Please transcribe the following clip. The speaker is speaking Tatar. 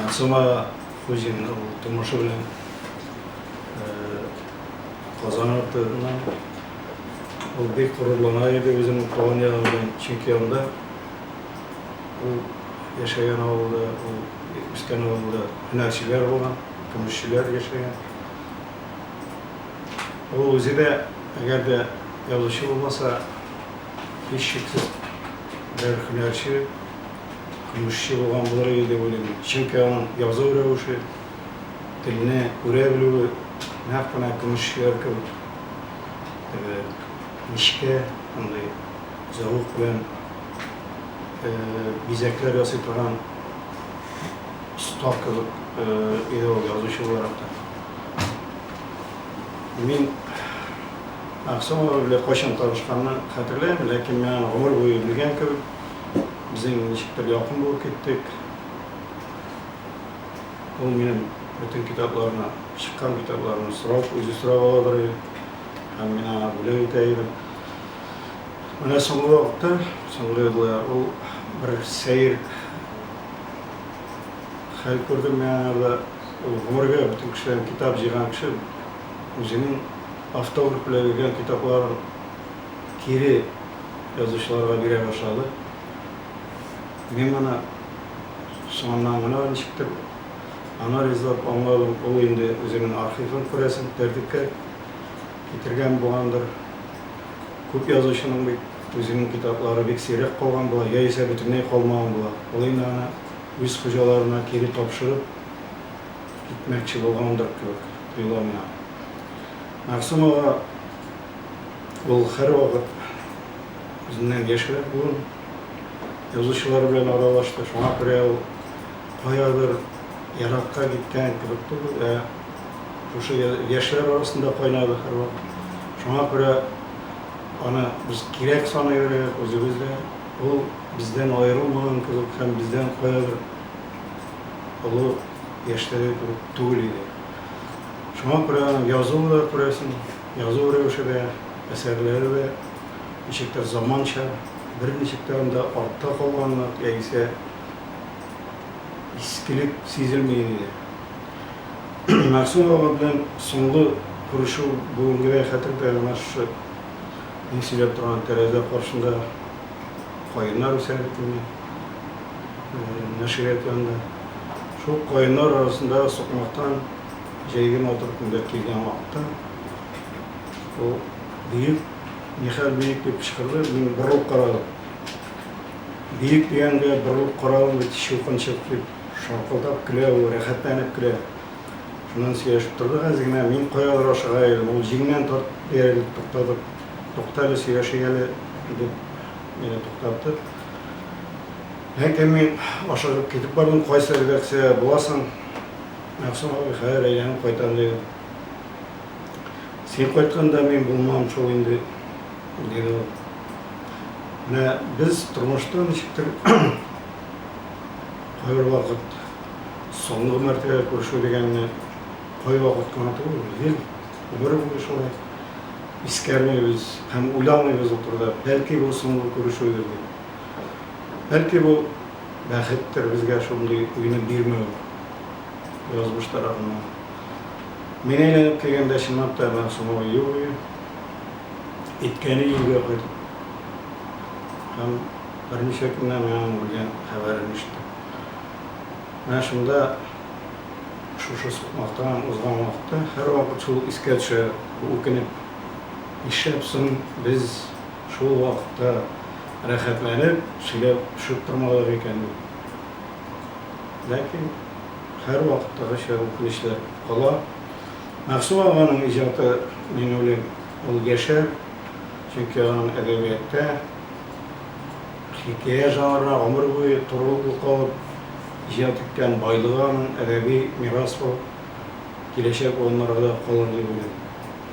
Ансыма Хуҗина ул тумышы белән Казан артыннан. Ул бик горурлана иде үзенең туган ягы белән, чөнки анда ул яшәгән авылда, ул үскән авылда һөнәрчеләр булган, көмешчеләр яшәгән. Ул үзе дә, әгәр дә язучы булмаса, һичшиксез бер һөнәрче, Көмешче булган булыр иде дип уйлыйм. Чөнки аның язу рәвеше, телне күрә белүе нәкъ менә көмешчеләр кебек теге мичкә андый зәвык белән бизәкләр ясый торган оста кебек иде ул язучы буларак та. Мин Аксенова белән кайчан танышканны хәтерләмим, ләкин мин аны гомер буе белгән кебек. Безнең ничектер якын булып киттек. Ул минем бөтен китапларны, чыккан китапларны сорап, үзе сорап ала бер ел. Һәм мин аңа бүләк итә идем. Менә соңгы вакытта, соңгы еллар ул бер сәер хәл күрде мин аңарда. Ул гомергә бөтен кешедән китап җыйган кеше үзенең автограф белән биргән китапларын кире язучыларга бирә башлады. Мин моны соңыннан гына ничектер анализлап аңладым, ул инде үзенең архивын, күрәсең, тәртипкә китергән булгандыр. Күп язучының бит үзенең китаплары бик сирәк калган була, яисә бөтенләй калмаган була. Ул инде аны үз хуҗаларына кире тапшырып китмәкче булгандыр кебек тоела миңа. Мәгъсүм ага ул һәрвакыт үзеннән яшьрәк буын язучылар белән аралашты, шуңа күрә ул каядыр еракка киткән кебек түгел, ә шушы яшьләр арасында кайнады һәрвакыт. Шуңа күрә аны без кирәк саный беләбез, үзебез дә. Ул бездән аерылмаган кебек һәм бездән каядыр олы яшьтәге кебек түгел иде. Шуңа күрә аның язуы да, күрәсең, язу рәвеше дә, әсәрләре дә ничектер заманча, берничек тә анда артта калганлык яисә искелек сизелми инде. Мәгъсүм ага белән соңгы күрешү бүгенгедәй хәтердә, менә шушы мин сөйләп торган тәрәзә каршында. каеннар үсә бит инде нәшрият янында. Шул каеннар арасындагы сукмактан җәйге матур көндә килгән вакытта ул биек, нихәл биек дип кычкырды, мин борылып карадым. Биек дигәнгә борылып карадым бит, чукынчык дип шаркылдап көлә ул, рәхәтләнеп көлә. Шуннан сөйләшеп тордык әз генә, мин каядыр ашыга идем, ул җиңнән тартып, ияреп туктадык. Туктале, сөйләшик әле, дип, мине туктатты. Ләкин мин ашыгып китеп бардым, кайсы редакция буласың? Мәгъсүм абый, хәер, әйләнеп кайтам, дигән. Син кайтканда мин булмам шул инде, диде ул. Менә без тормышта ничектер кайбер вакыт соңгы мәртәбә күрешү дигәнне кайвакыт кына түгел, ел Гомер буе шулай искәрмибез һәм уйламыйбыз ул турыда, бәлки бу соңгы күрешүебез дип. Бәлки бу бәхеттер безгә шундый уйны бирмәү язмыш тарафыннан. Мин әйләнеп килгәндә чынлап та Мәгъсумова юк иде. Әйткәне өйгә кайтып һәм берничә көннән аның үлгән хәбәрен ишеттем. Менә шунда Шушы сукмактан узган вакытта һәрвакыт шул искә төшә, үкенеп. Нишләп соң без шул вакытта рәхәтләнеп сөйләп төшеп тормадык икән дип. Ләкин һәрвакыттагыча үкенечләр кала. Мәгъсум аганың иҗаты, мин уйлыйм, ул яшәр, чөнки аның әдәбиятта. Хикәя жанрына гомер буе турылыклы калып, иҗат иткән байлыгы аның әдәби мирас булып киләчәк буыннарга да калыр дип уйлыйм.